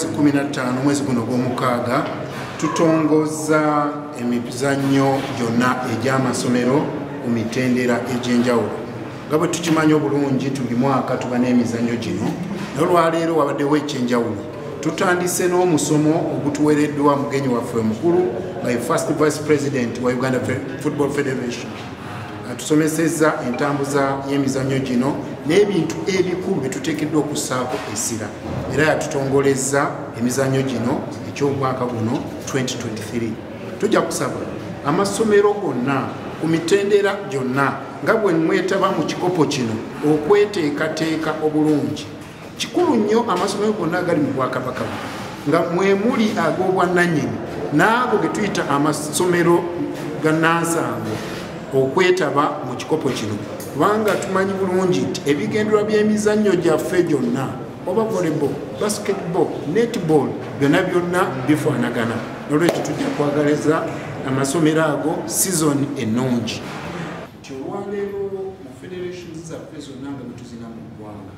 15 mwezi guno gw'omukaaga tutongozza emizannyo gyonna egy'amasomero ku mitendera egy'enjawulo nga bwe tukimanyi obulungi tuli mwaka tuba n'emizannyo gino nolwaleero wabaddewo ekyenjawulo tutandise n'omusomo ogutuwereddwa mugenyi waffe omukulu nga ye first vice president wa uganda football federation atusomesezza entambuza y'emizannyo gino n'ebintu ebikulu bye tuteekeddwa okussaako essira era yatutongolezza emizannyo gino eky'omwaka guno 2023 tujja kusaba amasomero gonna ku mitendera gyonna nga bwe mwetaba mu kikopo kino okweteekateeka obulungi kikulu nnyo amasomero gonna agali mu bwakabaka nga mwemuli ag'obwannanyini n'ago ge tuyita amasomero ga nansango okwetaba mu kikopo kino kubanga tumanyi bulungi nti ebigenderwa by'emizannyo gyaffe gyonna oba volleyball basketball netball byonna byonna bifaanagana nolwekyo tujja kwagaliza amasomero ago sizoni ennungi nti olwaleero mu federation zaffe zonna nga bwetuzina mu ggwanga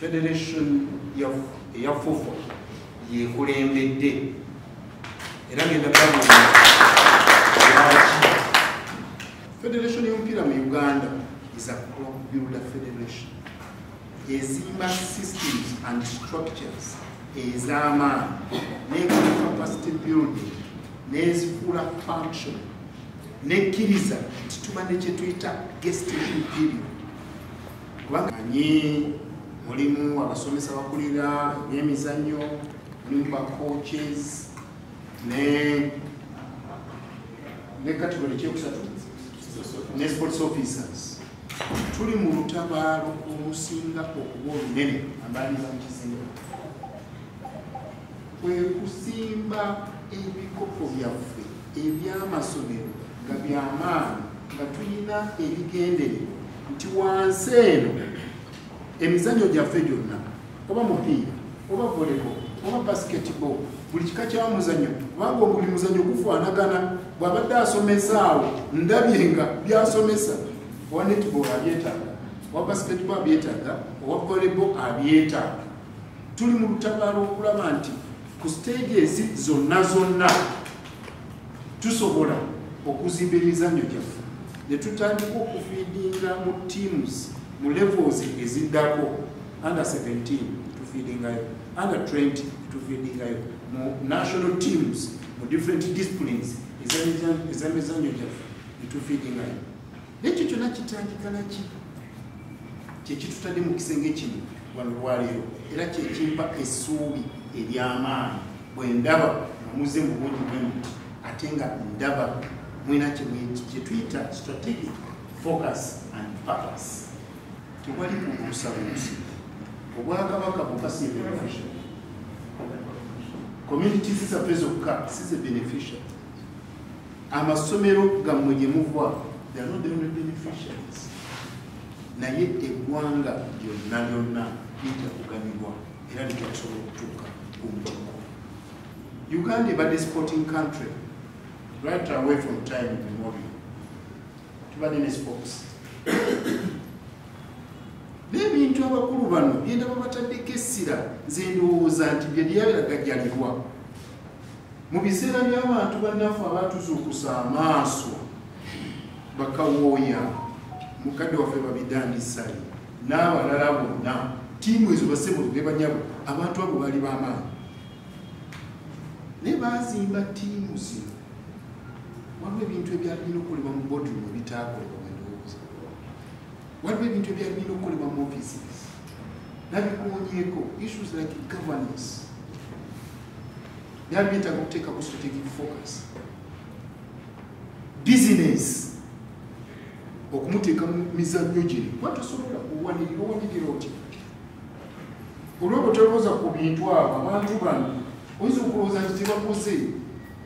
federation eya fufa yekulembedde era ngenda federation yomupiira mu uganda is a club builder federation ezimba systems and structures ez'amaanyi nekola capacity building nezifuula function nekkiriza nti tuba nekyetuyita gestation period kubanga manyi mulimu abasomesa bakulira ebyemizannyo mulimu ba coaches ne ne category kyekusatu ne sports officers tuli mu lutabaalo olusinga okuba olunene ambaliriza mu kizimbe kwe kusimba ebikopo byaffe ebyamasomero nga byamaanyi nga tulina ebigendererwa nti wansi eno emizanyo gyaffe gyonna oba mupiira oba volebo oba basketball buli kika kya muzanyo kubanga obuli muzanyo gufaanagana bw'abadde asomesa awo ndabye nga byasomesa owa netball abyetaaga owa basketball abyetaaga owa volebo abyetaaga tuli mu lutabaalo okulaba nti ku siteegi ezi zonna zonna tusobola okuzimba emizannyo gyaffe ne tutandika okufiidinga mu teams mu levels eziddako under 17 tufiidingayo under 20 tufiidingayo mu national teams mu different disciplines ezamizannyo gyaffe ne tufiidingayo nekyo kyona kitandika naki kyekitutadde mu kisenge kino walwaleero era kyekimpa essuubi eryamaanyi bwe ndaba amuze mu bungi bwemu ate nga ndaba mwena kyetuyita strategic focus and purpose tewali kubuusabuusi obwakabaka bukasibeneficia community sisafe zokka size beneficia amasomero gammwe gye muva naye eggwanga lyonna lyonna lija kuganyulwa era lija kusobola okutuuka ku mutuko uganda ebadde sporting country right away from time memory tubadde ne sports n'ebintu abakulu bano byenda babataddeko essira nze ndowooza nti bye byabiragajalirwa mu biseera by'abantu bannaffe abatuzuukusa amaaso bakawooya mukadde waffe babidandisali n'abalala bonna tiimu ezo basebo ne banyabo abantu abo baali b'amaanyi naye baazimba tiimu zino waliwo ebintu ebyalina okolebwa mu bodrum ebitaakolebwa waliwo ebintu ebyali birina okukolebwa mu office nabikuwonyeko issues like governance byali byetaaga okuteeka ku strategic focus business okumuteeka mu mizannyo gino kuba tosobola owanirira owanirira otya olwoba tolowooza ku bintu abo abantu bano oyinza okulowooza nti tebakoze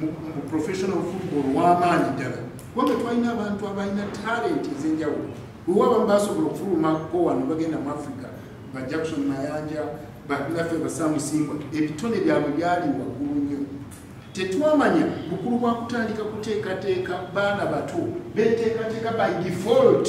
mu professional football wamaanyi ddala kubanga twalina abantu abalina talent ezenjawulo wewa abamu basobola okufulumako wano bagenda mu africa ba jackson mayanja banaffe basamusimbwa ebitone byabwe byali waggulu nnyo tetwamanya bukulu bwa kutandika kuteekateeka baana bato beteekateeka by default